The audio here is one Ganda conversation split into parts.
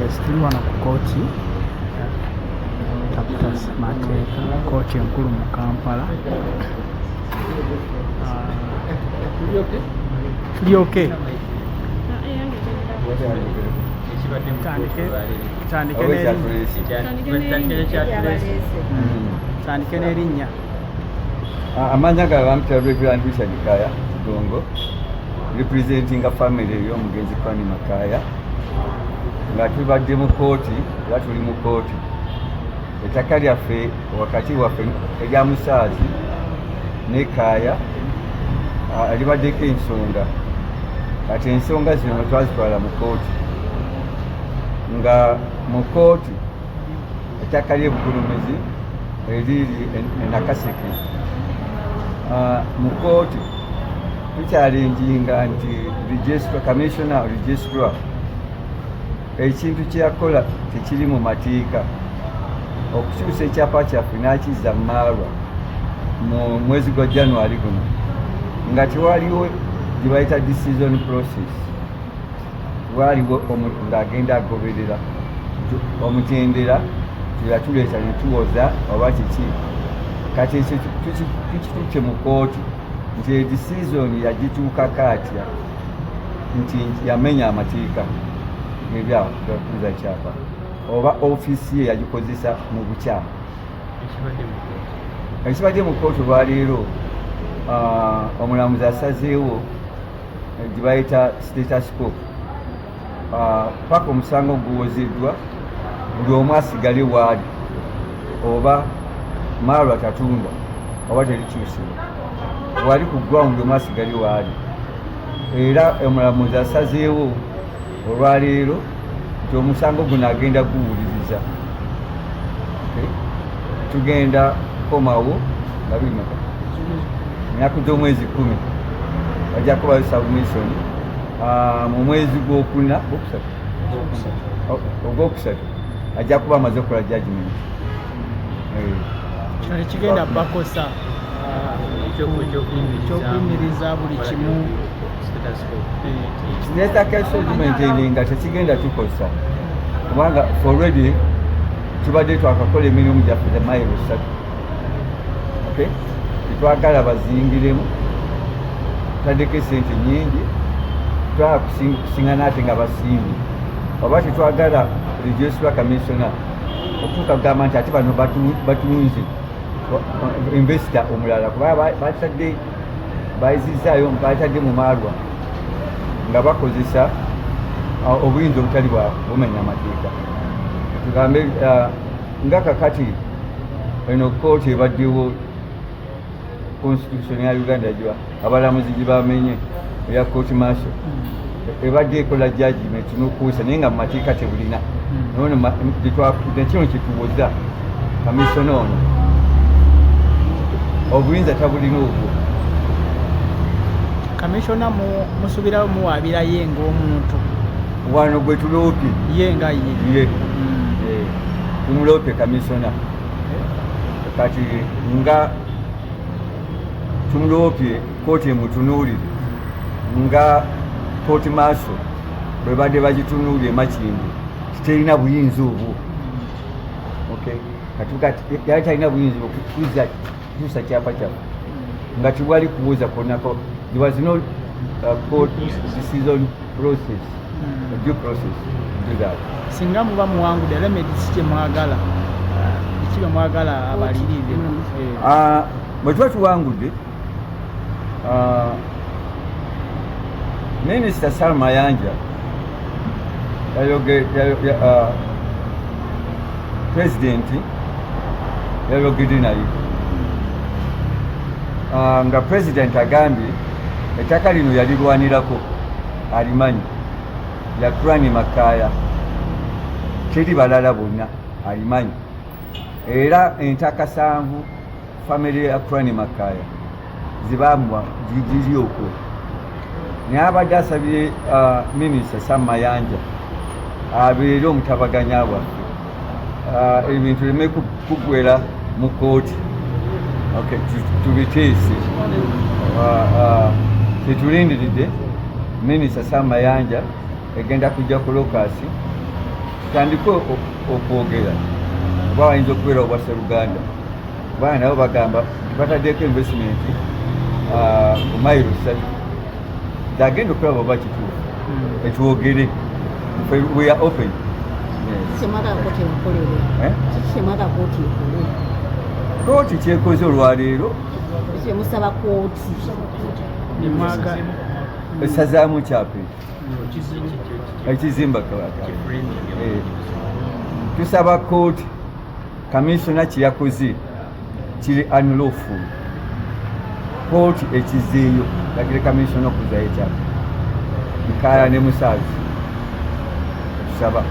Yes, tuli wano ku kooti taputa mateeka kooti enkulu mu Kampala tuli ok tandike n'erinnya amanya ga bamutya reverand richard kaya gongo representinga family ey'omugenzi kwani makaya nga tubadde mu kooti era tuli mu kooti ettaka lyaffe wakati waffe erya musaazi ne kaaya libaddeko ensonga kati ensonga zino twazitwala mu kooti nga mu kooti ettaka ly'ebugulumizi eriri enakaseke ah, mu kooti tukyalinjinga nti commissioner registra ekintu kyeyakola tekiri mu mateeka okukyusa ekyapa kyaffe n'akizza mu maalwa mu mwezi gwa january guno nga tewaliwo gyebayita decision process waaliwo ng'agenda agoberera omutendera teyatuleeta netuwoza oba kiki kati ekyo tukitutte mu kooti nti edisizoni yagituukako atya nti yamenya amateeka ebyakuzza kyapa oba ofiisi ye yagikozesa mu bukyamu ekibadde mu kooti olwaleero ah, omulamuzi asazeewo gye bayita status quo ah, paka omusango guwozeddwa buli omu asigale waali oba maalwa tatundwa oba terikyusibwa wali ku ground omu asigale waali era omulamuzi asazeewo olwaleero nti omusango guno agenda guwuliriza tugenda kukomawo nga bimeka ennaku gy'omwezi kumi bajja kubayo submission ah, mu mwezi gwokuna gwokusatu ogwokusatu ajja kuba amaze okukola judgment kino tekigenda bakosa ekyokuyimiriza buli kimu netakya segment eri nga tekigenda tukosa kubanga already tubadde twakakola emirimu gyaffe the mile esatu okay tetwagala bazingiremu taddeko esente nyingi twala kusinga naate nga basimbi oba tetwagala rejesula kamisona okutuuka kugamba nti ate bano batunze investa omulala kuba batadde bayizizzaayo baatadde mu maalwa nga bakozesa uh, obuyinza obutali bwa bumenya amateeka tugambe uh, nga kakati eno kooti ebaddewo constitution ya uganda giba abalamuzi gibamenye eya kooti maaso hmm. ebadde ekola jajimenti nokuusa naye nga mumateeka tebulina nekino kituwoza kamisona ono obuyinza tabulina obwo kamisona musubirawo muwabirayo ngaomuntu wano gwetuloopye ye nga ye ye hmm. tumuloopye kamisona kati nga tumuloopye Kkooti emutunuulire nga kkooti maaso bwe badde bagitunuulira emakindi kiterina buyinza obwo yali talina buyinza okukuza kutuusa kyapa kyaffe nga tewali kubuuza konako there was no uh, court decision process hmm. due process to that singa muba muwangude era medisi kyemwagala uh, kiba mwagala abalirire hmm. eh. ah, bwe tuba tuwangudde Uh, Minisita Sam Mayanja uh, pulezidenti yayogedde naye uh, nga pulezidenti agambye ettaka lino yalirwanirako alimanyi yakurani makaaya teri balala bonna alimanyi era entakasanvu famire ya Crane Makaya zibambwa gigiri okwo naye abadde asabye uh, minisita Sam Mayanja abeere omutabaganya bwaffe uh, ebintu leme kugwera mu kooti tubiteese uh, tetulindiridde minisita Sam Mayanja egenda kujja ku lokasi tutandike okwogera oba wayinza okubeera obwa seruganda kubanga nabo bagamba bataddeko investment ah, ku mayiro ssatu agenda okulaba oba kituufu hmm. ekiwogere we are open eh? kooti kyekoze olwaleero musaba kooti esazaamu kyapa ekizimba kabaka eh. tusaba kooti Kaminsona kye yakoze kiri anlufu kooti ekizeeyo lagire kaminsona okuzayo ekyapa nkaala ne musaazi okusaba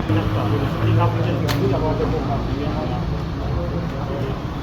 Thank you.